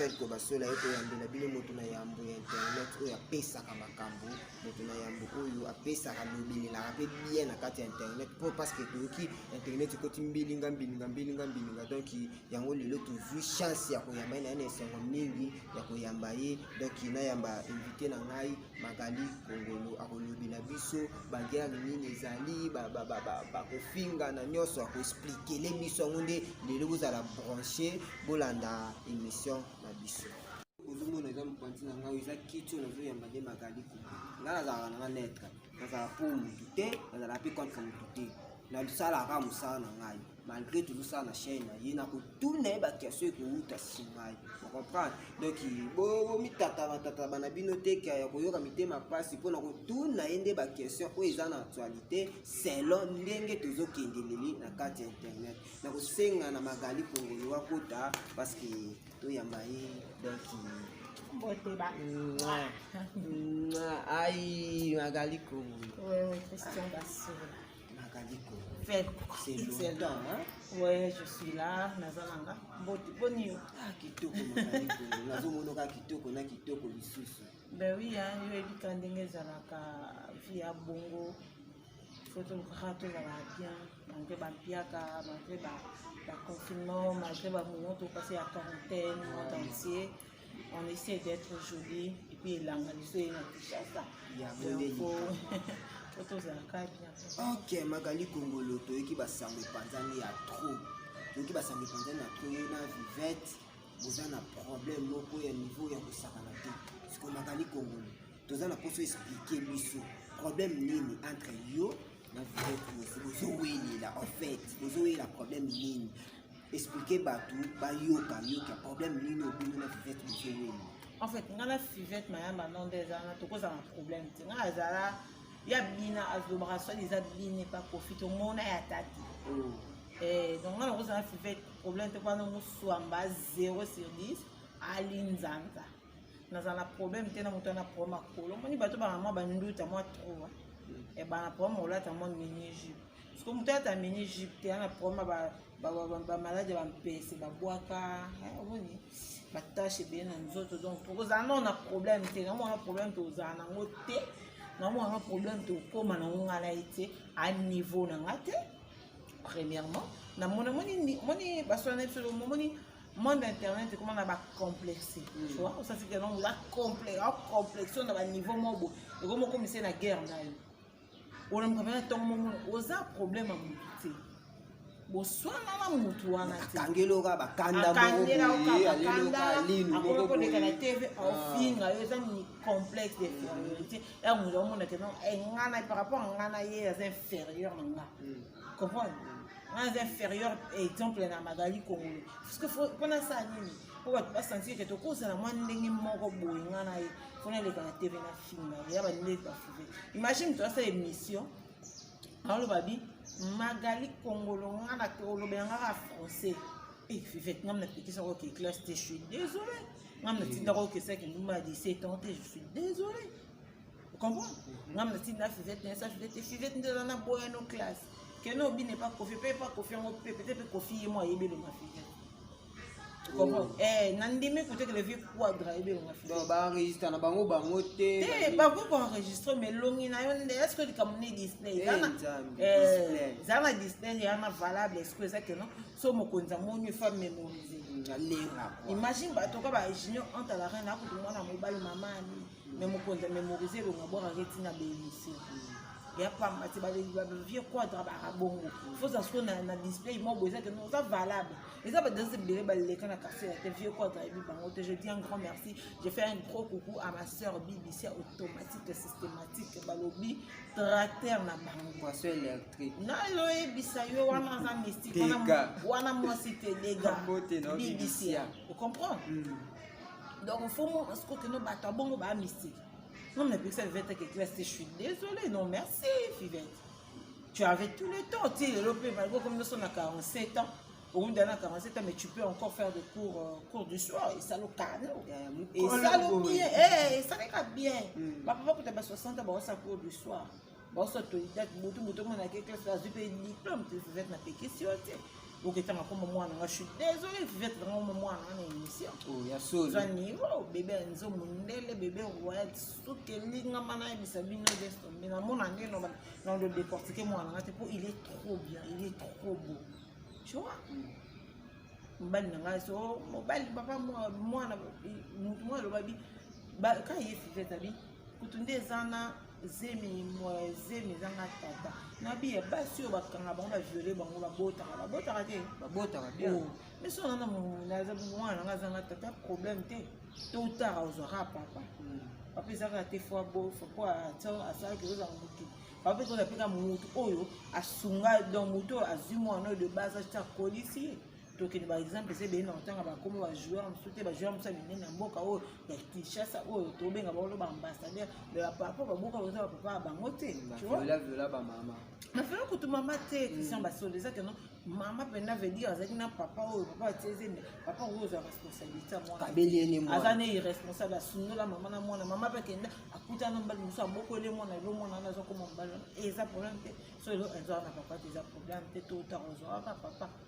felko basola ye koyambela bino moto na yambo ya internet oyo apesaka makambo moto na yambo oyo apesaka lobelelaka mpe bien na kati ya internet mpo parceke toyoki internet ekoti mbilinga mbilinga mbilinga mbilinga donk yango lelo tozwi chance ya koyamba ye na ye na esengo mingi ya koyamba ye donk nayamba invité na ngai Magali Kongolo akolobela biso baguerre nini ezali bakofinga na nyonso akoexplikele biso yango nde lelo bozala branche bolanda émission na biso ozomona eza mopanzi na ngai eza kiti oyo nazoyamba nde magali Kongolo ngai nazalaka na ngai netre nazalaka mpo motu te nazalaka mpe contre motu te nasalaka mosala na ngai malgré tozosala na chaine na ye nakotuna ye bakiaso ekouta nsima ye ocomprendre donc bomitatabatataba na bino te ke ya koyoka mitema mpasi mpo na kotuna ye nde baquestion oyo eza na actualité selon ndenge tozokendeleli na kati ya internet na kosenga na magali kongolo akota parce que toyamba ye donc Boteba. Aïe, Magali Kongo. Oui, oui, Christian Bassoula. Magaliko. Fête. C'est longtemps, hein? Ouais, je suis là. Nazalanga. Mbote, boni yo. Ah, kitoko Magaliko. Nazomona ka kitoko na kitoko lisusu. Ben oui, hein, yo ebika ndenge ezalaka vie ya bongo. Faut tolukaka tozala bien malgré bampiaka malgré baconfinement malgré bamoto mpasi ya quarantaine monde entier mm. on essaie d'être joli et puis elanga biso ye na kinshasa po tozalaka bien ok magali kongolo toyoki basango epanzani ya trop toyoki basango epanzani ya trop ye na vivette boza na problème moko ya niveau ya kosakana te siko magali kongolo toza na mposo explike biso problème nini entre yo na vivette bozowelela en fait bozowelela problème nini expliquer bato bayoka yoka problème nini obino na fivete bozoweli en fait nga na fivete mayamba non nde eza wana tokozala na problème te nga azala ya bina azobaka soki eza bina epa kofi tomona ya tati oh. eh, donc nga nakozala na fivete problème te kwana moswamba 0 sur 10 ali nzanza nazala na problème te na moto ana problème akolo omoni bato bana mwa banduta mwa troa ebana problème olata mwa mini jupe parceke moto alata mini jupe te ana problème bamaladi ya bampese babwaka omoni batashe ebele na nzoto donc tokozala nao na problème te namona problème tozala nango te namona problème tokóma nango ngai na ye te a niveau na ngai te premièrement namoni moni baswana na biso lomomoni monde internet ekoma na bacomplexe mm. tu vois osasi ke nongo complexe na baniveau mobo ekoma okomise na guerre na yo olamuka mpena ntongo momona oza problème ya motu te boswana na motu wana teakangeloka bakandaakoleka na tv aofinga ah. yo eza ni complexe d'infériorité ya motu aomona ke non eh, ngana par rapport a ngana ye aza inférieur na nga mm. comprendre naza inférieur exemple na magali kongolo parceke mpo nasala nini mpo bato basentir ke tokozala mwa ndenge moko boye nga na ye mpo naleka na tv na finga ya bandenge bafuve imagine moto asala émission aoloba bi magali kongolo nga na olobela ngaka français e fivete ngam na pekisa ko ke classe te je suis désolé ngam na tindaka okesaki ndumba ya 17 ans te je suis désolé comprends nga mna ti na fivete na sa fivete fivete nde na boya no classe que no bine pas kofi pe pas kofi yango pe peut-être kofi ye mo ayebele ma fivete comprends eh na ndimi kutu que le vieux quadra ayebele ma fivete donc ba enregistre na bango bango te te ba ko enregistrer mais longi na yo nde est-ce que likambo ne display zana eh zana display ya na valable est-ce que eza que non so mokonzi amoni fa mémoriser imagine bato ka ba junior entre la reine akutu mwana mobali mama amini me mokonzi ya memorize elonga bwakaka etina beyisi ya pamba te bavieux quadre baka bongo foza siko na display moko eza te oza valable eza badanse ebele baleka na quartier ya te vieux quadre ayebi bango te je dis un grand merci je fais un gros coucou à ma sœur bbc automatique systématique balobi tracteur na bango poisson électrique naloyebisa yo wana aza mystique wana mwasi te dega bbc ocomprendre donc mfumu sikoki no bato abongo baa mystique non mais pekisa vivete que classe je suis désolé non merci vivete tu avais tout le temps ti lelo mpe malgre comme noso na 47 ans owundi na 47 ans mais tu peux encore faire des cours euh, cours du soir esalo kano esalo bien esalaka bien bapapa kuta ba 60 ans baosa cours du soir baosi autodidacte butu butu mwana ake classe azwi mpe diplome te fivete napekisi yo te oketanga koma mwana nga suis désolé fivete nanga koma mwana nga na émission oza niveau bebe ya nzo mondele bebe royal suki elingama nayebisa bino destombe namona nde na lo décortique mwana nga te mpo il est trop bien il est trop beau tu vois mobali na ngai so mobali papa mwana motu mwa alobabi kaka ye fivete abi kutu nde eza na zemi zemi eza na tata na biye basi oyo bakanga bango baviole bango babotaka babotaka te babotaka bien oh. mais so nana naza mwana nanga azanga tata problème te to tara ozwaka papa hmm. papa ezaka te fo abofa po asalaki ozanga motu papa ezaka mpe ka motu oyo asunga donc motu oyo azwi mwana oyo de base akolisi ye tokende ba exemple ese beyenda kotanga bakomi ba joueur mosusu te ba joueur mosusu ya minene ya mboka oyo ya kinshasa oyo tobenga baolo ba ambassadeur me bapapa baboka baza bapapa ya bango te nafela kutu mama te christian basolo eza keno mama mpena veut dire azalaki na papa oyo papa atieze me papa oyo ozwa responsabilité ya mwana aza ne irresponsable asundola mama na mwana mama mpe akenda akutana mobali mosusu abokoli mwana elo mwana wana azokoma mobali eza problème te so elo eza wana papa te eza problème te to otaka ozwaka papa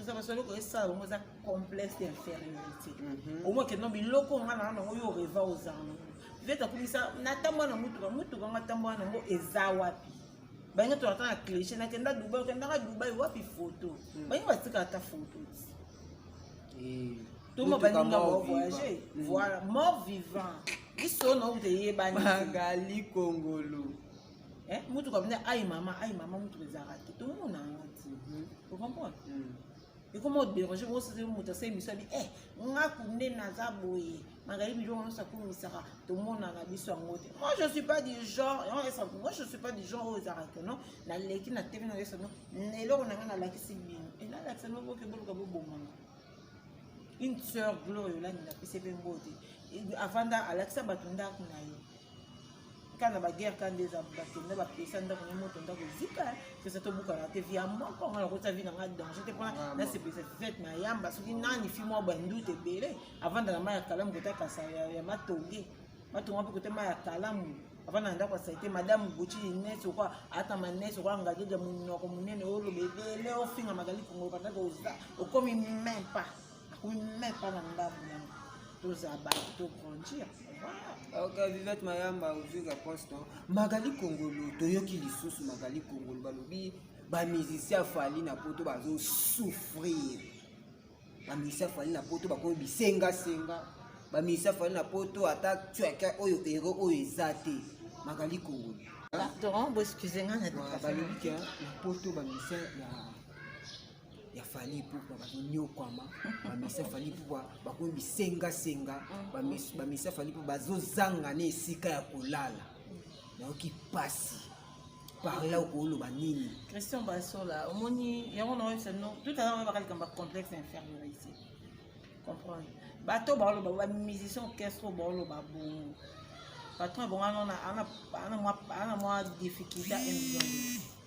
eza basali okoki esala bango eza complexe d'infériorité mhm. omoi kende no biloko nga na nango yo oreva oza nango vete akumisa natambwa na motuka motuka nga tambwa na yango eza wapi bange tolata na cliche nakenda dubai okendaka dubai wapi foto mhm. bange batika ata foto ti eh, toma baninga bavoyage mhm. voilà mort vivant biso na okuteyebani magali kongolo eh, motuka bina ayi mama ayi mama motuka ezalaka te tomona yango ti hmm. ocomprendre hmm. ekoma oderange bosese moto asa emisio abi e nga kunde naza boye magali biloko nyonso akumisaka tomonaka biso yango te moi je suis pas du genre yango esa moi je suis pas du genre oyo ezalaka te non naleki na tv na yesa no eloko na ngai nalakisi bino enalakisa no boke boluka bobomanga une sœur gloria olandi napesi mpe mbote avanda alakisa bato ndako na yo ka na baguerre ka nde eza bato nde bapesa ndako na moto ndako ezika pesa tobukana te via moko nga nakota vi na nga danger te mpona nasepelisa fete na yamba soki nani fi mwa bandute ebele avanda na mai ya kalamu kota kasa ya matonge matonga mpe kota mai ya kalamu avanda na ndako ya saite madame gucci ines okwa ata manes okwa ngageja monoko monene oloba ebele ofinga magali kongo bandako oza okomi meme pas Oui, mais pas dans l'âme. Tous à bas, tout grandir. Ok, Vivette Mayamba, aujourd'hui réponse non. Magali Kongolo, toyoki lisusu Magali Kongolo, balobi ba musiciens fali na poto bazo souffrir. Ba musiciens fali na poto bakomi bisenga senga. Ba musiciens fali na poto ata tuaka oyo hero oyo eza te. Magali Kongolo. Pardon, vous excusez-moi. Balobi que na poto ba musiciens ya ya fali ipupa bakonyokwama bamisa fali ipupa bakomi bisengasenga bamisa fali ipupa bazozanga na esika ya kolala nayoki mpasi parla okoloba nini christian basola omoni yango naoyebisa no tout à l'heure oyebaka likambo ya complexe infériorité comprendre bato baoloba bamusicien orchestre oyo baoloba bongo patron ebonga ana mwa difficulté ya million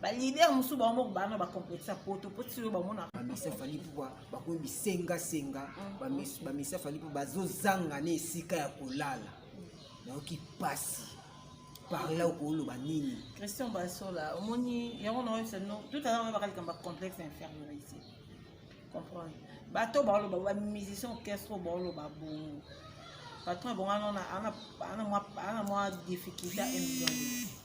ba leader mosusu bango moko bana ba complexe poto po tiyo bamona bamisa fali mpo bakomi bisengasenga mm. bamisa fali mpo bazozanga na esika ya kolala nayoki mpasi parla okoloba nini christian basola omoni yango naoyebisa no tout à l'heure baka likambo complexe infériorité comprendre bato baoloba bamusicien orchestre baoloba bongo patron ebonga ana mwa difficulté emilioni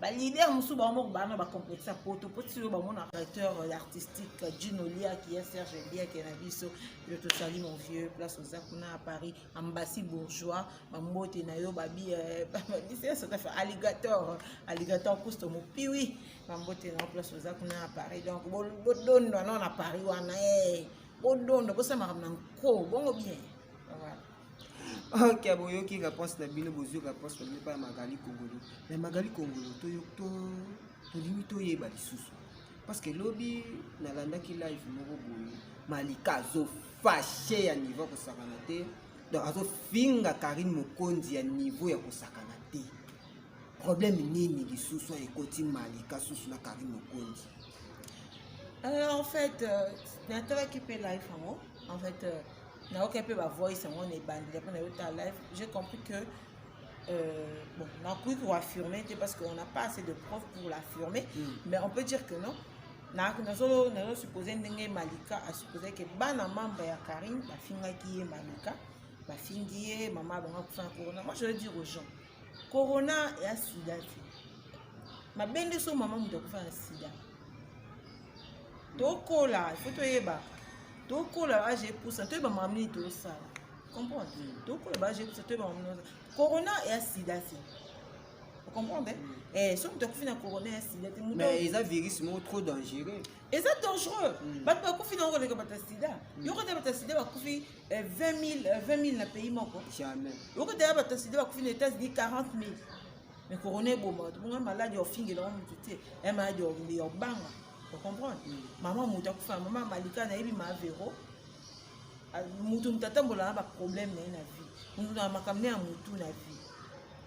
ba leader mosusu bango moko bana ba complexe ya poto mpo ti oyo bamona directeur artistique jino liaki ya serge liaki na biso yo tosali mon vieux place oza kuna ya paris ambassi bourgeois bambote na yo babi eh, bisesotafa alligator alligator kusto mopiwi bambote na yo place oza kuna ya paris donc bodondwa no na paris wana e eh. bodondo bosala makambo na nko bongo bien voilà ok boyoki réponse na bino bozwi réponse na bino epai ya magali kongolo me magali kongolo tolingi toyeba lisusu parce que lobi nalandaki live moko boye malika azofashe ya niveau ya kosakana te donc azofinga karine mokonzi ya niveau ya kosakana te problème nini lisusu ekoti malika susu na karine mokonzi euh, en fait euh, natalaki mpe live yango en fait euh, nayoki mpe ba voice yango na ebandeli mpo nayoki ta live j'ai compris que euh, bon nakoki koaffirme te parce qu'on n'a pas assez de preuve pour l'affirmer mm. mais on peut dire que non nazosupose ndenge malika asupose ke bana membre ya karine bafingaki ye malika bafingi ye mama abonga kufana corona moi je veux dire aux gens corona ya sida te mabende so mama moto akufa na sida tokola ifo toyebaka tokola age epusa toyeba makambo nini tosala comprendre mm. tokola ba je kusa toyeba mamino corona ya sida te comprendre mm. eh, soki moto akufi na corona ya sida te mais eza virus moko trop dangereux eza dangereux mm. bato bakufi na yango koleka bato ya sida yoko te bato ya sida bakufi eh, 20000 eh, 20000 na pays moko jamais okota ya bato sida bakufi na états-unis 40000 mais corona eboma bato bongo maladi ya ofingela ngo motu te ya maladi ya obanga ocomprendre mm. mama moto akufa na mama malika nayebi maavero ah, moto moto atambola na baproblème na ye na vie moto na makambo ya motu na vie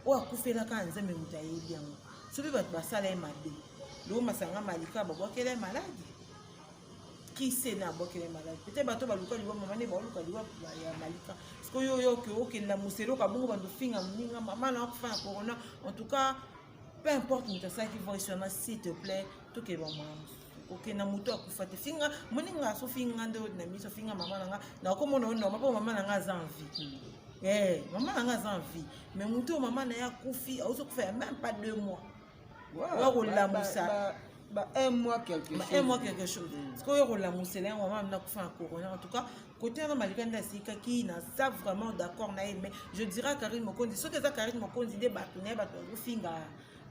oyo akufelaka na nzambe moto ayebi yango soki bato basala ye mabe loo masanga malika babwakela ye maladi kise na bokele maladi pete bato baluka liwa mama nde baoluka liwa ya malika sikoyo oyo oke okenda moselo kabongo bando finga moninga mama na akufa na corona en tout cas peu importe moto asalaki voice wana s'il te plaît tokende bamwana mosusu kokenda moto akufa te finga moninga aso finga nde na miso finga mama na nga nakomona oyo noma mpo mama na nga aza en vie eh, mama na nga aza en vie mais moto oyo mama na ye akufi aozokufa ya même pas deux mois oya kolamusa ba un mois quelque chose un mois quelque chose sikoyo kolamusela yango mama nakufa na corona en tout cas kote wana malika nde asikaki naza vraiment d'accord na ye mais je dirais karine mokonzi soki eza karine mokonzi nde bato na ye bato bazofinga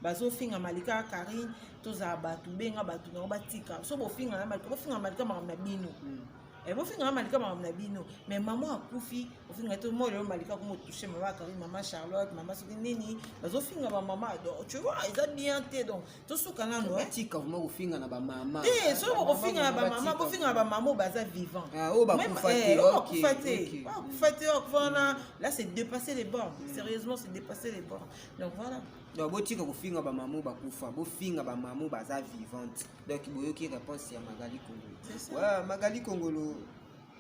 bazofinga malika karine tozala bato benga bato na yango batika so bofinga na malika bofinga malika makambo na bino hmm. Eh, bofinga nga malika makambo na bino mais mama akufi ofinga te moi lelo malika komo touche mama akari mama charlotte mama soki nini bazofinga bamama donc tu vois eza bien te donc tosuka nano eh. tika vrima kofinga na bamama te soki bokofinga na bamama bofinga na bamama oyo baza vivant ah, oyo bakufa te bakufa te bakufa te bakufa wana là c'est dépasser les bornes mm. sérieusement c'est dépasser les bornes donc voilà donc botika kofinga bamama oyo bakufa bofinga bamama oyo baza vivante donc boyoki réponse ya magali kongolo ouais, magali kongolo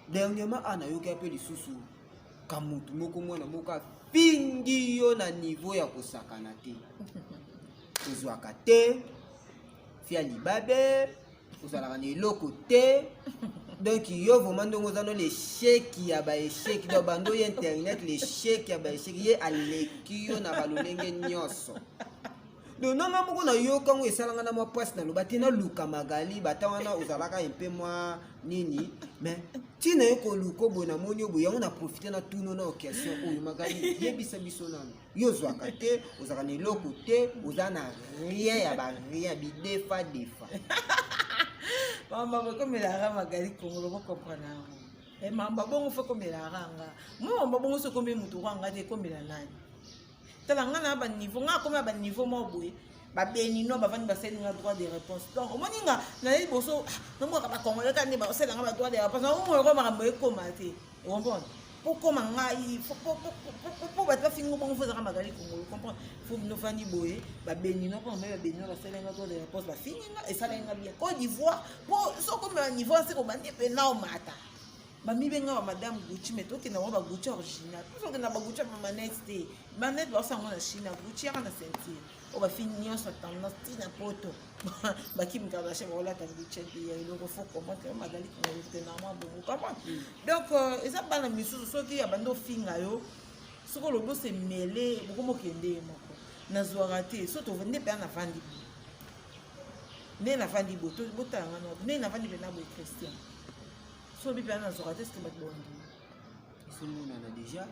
dernièrement ana yoki ape lisusu kamutu moko mwana moko afingi yo na niveau ya kosakana te ozwaka te fia libabe ozalaka na eloko te donc yo vraiment ndenge oza no lesheki ya baesheki donc bando ye internet lesheki ya baesheki ye aleki yo na balolenge nyonso donc nanga moko nayoka yango esalanga na mwa mpasi naloba te naluka magali bata wana ozalaka mpe mwa nini mais ntina yo koluka oboye namoni oboye yango na profite na tuno na occasion oyo magali yebisa biso nano yo ozwaka te ozalaka na eloko te oza na rien ya barien bidefa defa mama bokomelaka magali kongolo bokomprana yango eh, mamba bongo fo komelaka nga mama bongo sokomi motu kwanga te komela nani tala nga na ba niveau nga akomi na ba niveau moko boye babeninois bavandi basali nga droit de réponse donc omoni nga naye liboso ah, nomboka bacongolais kani basala nga badroit de réponse naomoyo ko makambo ekoma te okomprendre pokoma ngai po bato bafingo bongo fozaka magali kongo comprendre fo bino fandi boye babenino mpo namai babenino basali nga droit de réponse bafingi nga esalaki nga bien côte d'ivoire po sokomela niveau ase kobandi mpe nao mata bamibenga ba madame gucci mais tokenda ngo bagucci original mpo tokenda bagucci ya bamanete te manete baosa yango na chine gucci yaka na ceinture oyo bafini nyonso tendance ti na poto bakimi kardashe bakolata gucci ya eloko fo komante yo magali kingotenamwa bongo kama mm. donc euh, eza bana misusu soki ya bandi ofinga yo soki olobi osemele bokomokende ye moko nazwaka te so tovende mpe ana vandi bo nde navandi bo botala nga nde navandi mpe na boye christian so bipe ana nazoka te sete bato bondi ezomonana deja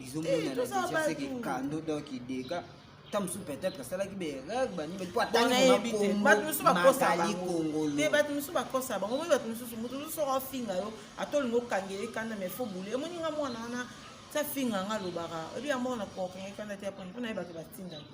ezomonana deja seke kando donc ideka ta mosusu peut-être asalaki bereg banini po atangimakomazali kongolo bato mosusu bakosa bango moi bato mosusu moto mosusu soko afinga yo ata olingi okangele kanda mai fo bule emoni nga mwana wana sa finga nga alobaka oyebi ya mwana kokangele kanda te aponi mpo na ye bato batindaki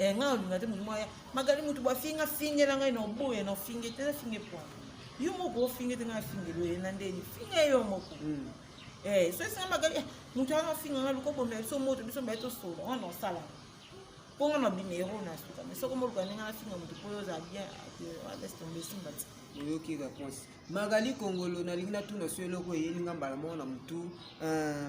Eh, nga olinga te mutu moko aya magali mutu bafinga fingela ngai na oboya na ofinge te nafinge pwa yo moko ofinge te ngai afingelo ye na ndeni finga yo moko hmm. eh, so esinga magali eh, mutu wana ofinga ngai luka obomela biso moto biso mbaye tosolo wana osala mpo nga na binero na suka mais soko moluka ndenge nafinga moto mpo yo oza bien laisse tombe esimba ti oyoki réponse magali kongolo nalingi natuna so eloko eyeli nga mbala moko na motu euh,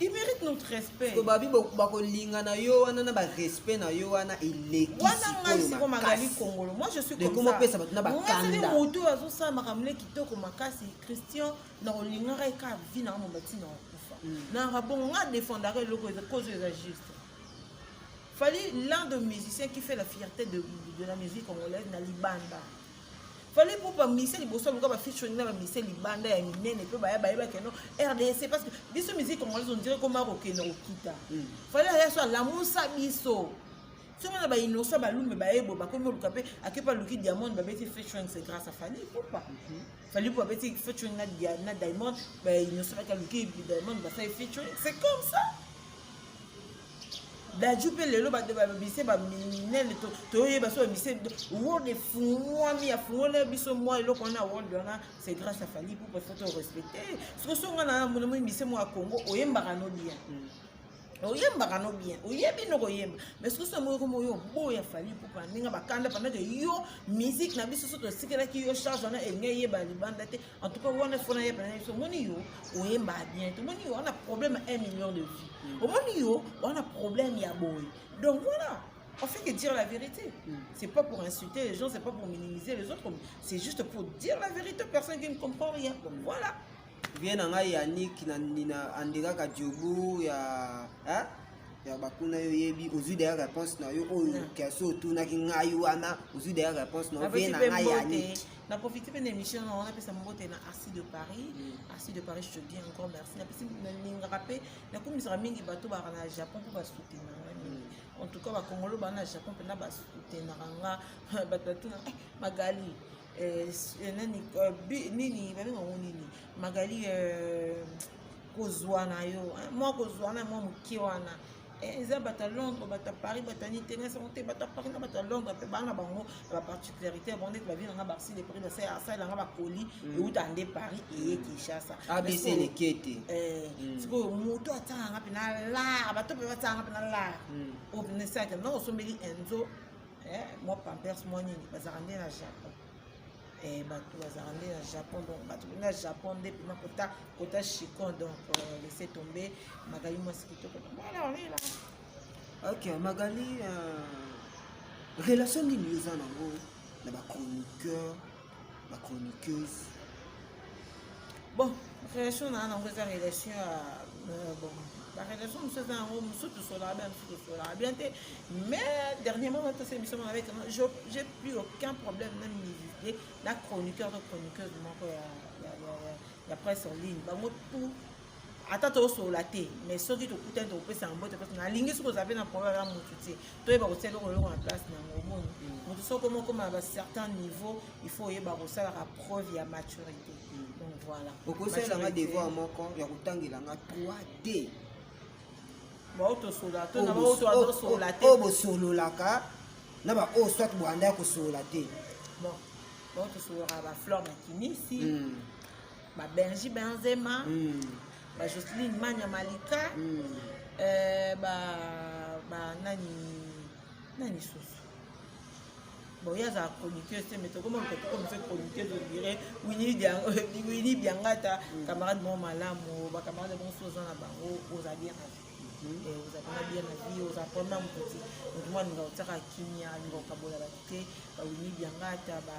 Il mérite notre respect. Ko babi bakolinga na yo wana na ba respect na yo wana eleki. Wana ngai siko magali kongolo. Moi je suis comme ça. Comment pesa bato na ba kanda. Ngai moto oyo azo sala makambo le kitoko makasi Christian na kolinga ngai ka vie na ngomba tina okufa. Hmm. Na rabongo nga défendaka eloko eza cause eza juste. Fallait l'un de musiciens qui fait la fierté de, de la musique congolaise na libanda. fallait pour pas miser liboso aluka ba featuring na ba miser libanda ya minene mpe baya bayeba keno rdc parce que biso musique congolaise on dirait koma kokende kokita hmm. fallait aya so alamusa biso soki na bainosa balume bayebo bakomi oluka mpe akepa aluki diamond babeti featuring c'est grâce à fali popa hmm. fali po babeti featuring na diamond bainosa baki aluki diamond basali featuring c'est comme ça daju mpe lelo bato babise baminele toyeba so babise world efungwami afungwela biso mwa eloko wana world wana c'est grâce à fali poupa faut torespecte soki songa na mona moi mise mwa congo oyembaka no bien oyembaka no bien oyebi no koyemba mais soki soki moyoko moyo oboya fali poupa ndenge bakanda pendant que yo musique na biso so tosikelaki yo charge wana elingi eyeba libanda te En tout cas, on a fait un problème. On a yo, on est mal bien. On a yo, on a problème à un million de vies. On a yo, on a problème à boy. Donc voilà. On fait que dire la vérité. Mm. C'est pas pour insulter les gens, c'est pas pour minimiser les autres. C'est juste pour dire la vérité. Personne qui ne comprend rien. Donc voilà. Viens en aïe, Yannick, Nina, Andega, Kadjoubou, ya. Hein? ya bakuna yo yebi ozwi deya réponse na yo oyo kasi otunaki ngai wana ozwi deya réponse na yo vie na ngai yaniki na profite mpe na émission na wana apesa mbote na arsi de paris mm. arsi de paris je te dis encore merci napesi nalingaka mpe nakumisaka mingi bato baka na japon mpo basoutenaka nga mingi mm. en tout cas bakongolo baa na japon mpena basoutenaka nga bato batuna eh, magali eh, eh, nani nini babenga ngo nini magali kozwa na yo mwa kozwa na mwa moke wana Eh, eza bato ya londres bato ya paris bato ya nitenge sango te bato ya paris na bato ya londres mpe bana bango na baparticularité ya bango ndeti bavi nanga barsi de prix basali asali nanga bakoli mm. euta nde paris eye kinshasa abisi eleke te eh, mm. sikoyo moto atanganga mpe na lar bato mpe batanganga mpe na lar mm. oyo mpe nesaki na osombeli enzo eh, mwa pampers mwa nini bazalaka nde na japon eh, bato bazalaka nde na japon donc bato bende na japon nde mpena kota kota chicon donc euh, laisse tombe magali mwasi kitoko bana olela ok magali euh, relation nini oza nango na bachroniqueur bachroniqueuse bon relation na nango eza relation ya euh, bon barelation mosusu eza yango mosusu tosolaka bien mosusu tosolaka bien te mais dernièrement batose émission mona avec j'ai plus aucun problème na musicien na chroniqueur to chroniqueuse moko ya presse en ligne bango tout ata tosolola te mais soki tokutani tokopesa yango mbote place nalingi soki oza mpe na problème ya motu te toyeba kotia eloko eloko na place na yango omoni mm. motu soki okomi okoma na bacertain niveau il faut oyeba kosalaka preuve ya maturité mm. donc voilà okosalela nga devoir moko ya kotangela nga 3d baoyo tosolola to na baoyo tozosolola te oyo bosololaka na baoyo soit boanda ya kosolola te bon baoyo tosololaka bafleur na kinisi mm. ba Benji Benzema mm. ba Jocelyn Manya Malika mm. euh, ba ba nani nani susu boye azala chroniqueuse te mais tokoma moto tokomi fe chroniqueuse odire wini biangata camarade moko malamu bacamarade bango so oza na bango oza bien na vie oza pena bien na vie oza pona moto te moto mwa alinga otiaka kimia alinga okabola bato te bawini biangata ba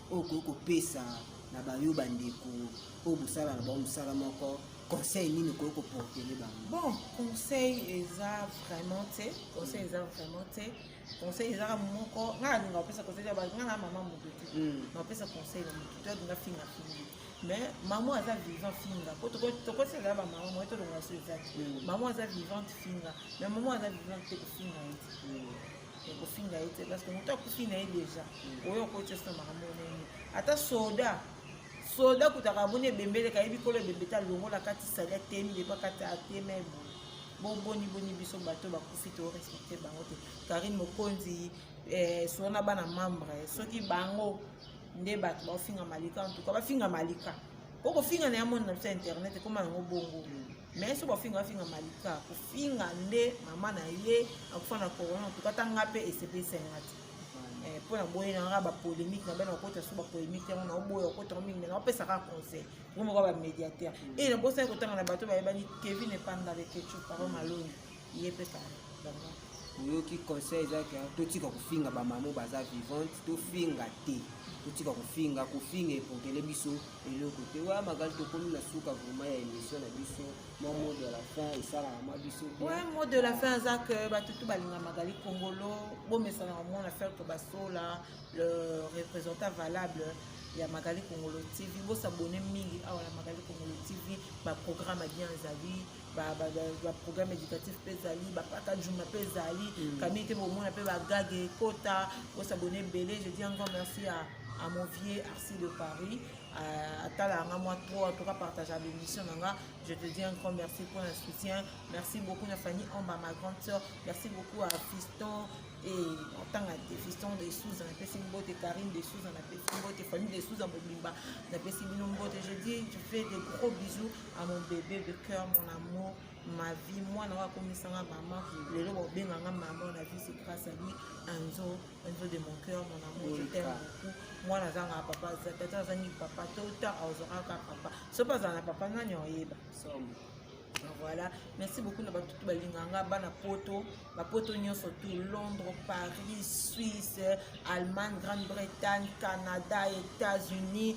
oyo okoki kopesa na bayo bandeko oyo bosala na bango mosala moko conseil nini okoki koportele bango bon conseil eza vraiment te conseil eza vraiment te conseil ezaka moko ngai nalinga kopesa conseil ya ngai na mama moto te hmm. napesa conseil na moto te alinga finga fingi mais mama aza vivant finga po tokosela bamama moye tolongola so eza te mama aza vivante finga mais mama aza vivante te kofinga ye te ekofinga ye te parce que moto akufi na ye deja oyo okoti oso makambo nini ata soda soda kutaka amoni ebembeleka ye bikolo ebembete alongola kati sali atemi depo akati atema eboye boboni boni biso bato bakufi to respecte bango te karine mokonzi eh, sona bana membre soki bango nde bato baofinga malika en tout cas bafinga malika okofinga na ya mona na biso ya internet ekoma yango bongo mais soki bafinga bafinga malika kofinga nde mama na ye akufa na corona tuka ata nga mpe esepelisa nga te eh, mpo na boye nanga bapolémique na bana bakota so bapolémique yango naoboya okotaka mingi me naopesaka conseil ngo moko bamediateur e nabosaki kotanga na bato bayebani kevin epanda leketchupa ba malongi ye mpe oyoki conseil ezalaki totika kofinga bamamo baza vivante tofinga te totika kofinga kofinga epokele biso eloko te wa magali tokomi na suka vraimen ya émission na biso mwa mot de la fin esalaka mwa biso wa mot de la fin aza ke bato tu balinga magali kongolo bomesana komona faire que basola le représentant valable ya magali kongolo tv bosabone mingi awa na magali kongolo tv baprogramme ya bien ezali baprogramme éducatif mpe ezali bapaka juma mpe ezali mm. kamii te bomona mpe bagage ekota bosabone ebele je dis encore merci à, à mon vieux arsi de paris euh, atala yanga mwa trop en tout cas partage ya bémission na nga je te dis encore merci mpo na soutien merci beaucoup na fanny omba ma grande sœur merci beaucoup à fiston et otanga te fiston de souza napesi mbote karine de souza napesi mbote famille de souza mobimba napesi bino mbote je dis je fais de gros bisous a mon bébé de cœur mon amour ma vie mwana oyo akomisanga mama lelo babenganga mama na vie c'est grâce à lui anzo anzo de mon cœur mon amour je t'aime beaucoup mwana azanga papa tata azangi papa to ta azokaka papa soki azala na papa nani oyeba voilà merci beaucoup na batutu balinganga bana poto bapoto nyonso to londres paris suisse allemagne grande bretagne canada états-unis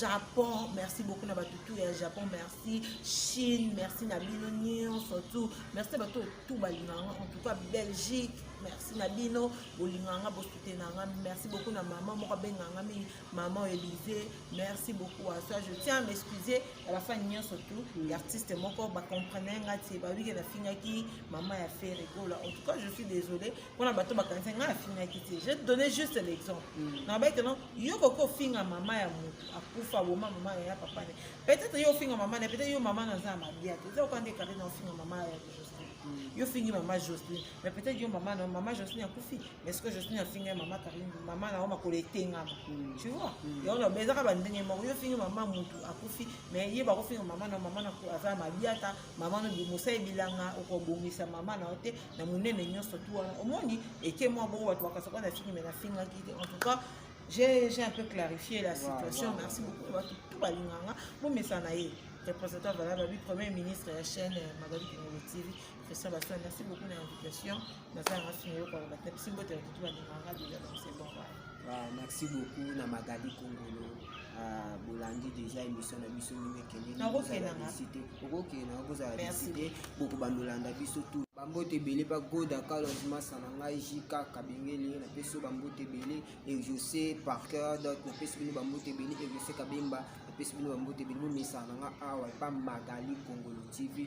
japon merci beaucoup na bato tu ya japon merci chine merci na bino nyonso tu merci na bato tu balinganga en tout cas belgique merci na bino bolinganga bosutena nga merci beaucoup na mama moko abenganga mingi maman Elise merci beaucoup à toi je tiens à m'excuser ya bafani nyonso tout mm. ya artiste moko bacomprene nga ti bawike nafingaki mama ya fere gola en tout cas je suis désolé mpona bato bakanisa nga afingaki te je donné juste l'exemple mm. nabai teno yo koki ofinga mama ya motu akufa boma mama ya papa ne peut-être yo ofinga mama ne peut-être yo mama naza ya mabia te eza oka nde karte na ofinga mama ya jocelyn mm. yo fingi mama jocelyn mais peut-être yo mama na mama josine akufi mais ce que josine afinga ye mama karine mama na yo makolo etengama mm. tu vois mm. yango loba ezaka bandenge moko yo ofingi mama motu akufi mais ye bakofinga mama na mama na aza mabiata mama na mosali bilanga okobongisa mama na yo te na monene nyonso tu wana omoni eke mwa bongo bato bakasaka na fingi mais nafingaki te en tout cas j'ai un peu clarifié la situation wow, wow, merci wow. beaucoup bato tout balinganga bomesana ye représentant valable bi premier ministre ya chaîne euh, magali kingolo tv Christian Basson, merci beaucoup na invitation. Naza na sima yoko ba tap simbo te tout ba nganga de la c'est bon ba. Ah, merci beaucoup na Magali Kongolo. Ah, bolandi déjà émission na biso mingi kende na kozala visite. Okokena okozala visite boko bandolanda biso tout. bambote ebele pa goda carlos masa na ngai jk kabengele napesi yo bambote ebele exauce parker dot napesi bino bambote ebele exauce kabemba napesi bino bambote ebele momesana na ngai awa epa magali kongolo tv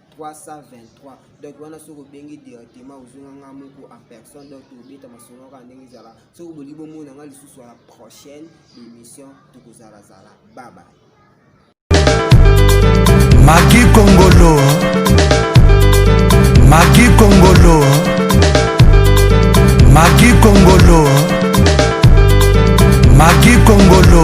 323 donc wana soki obengi directement ozonga nga moko en personne donc tobeta masolo kaka ndenge ezala soki bolingi bomona nga lisusu ya la prochaine émission tokozalazala baba magi kongolo magi kongolo magi kongolo magi kongolo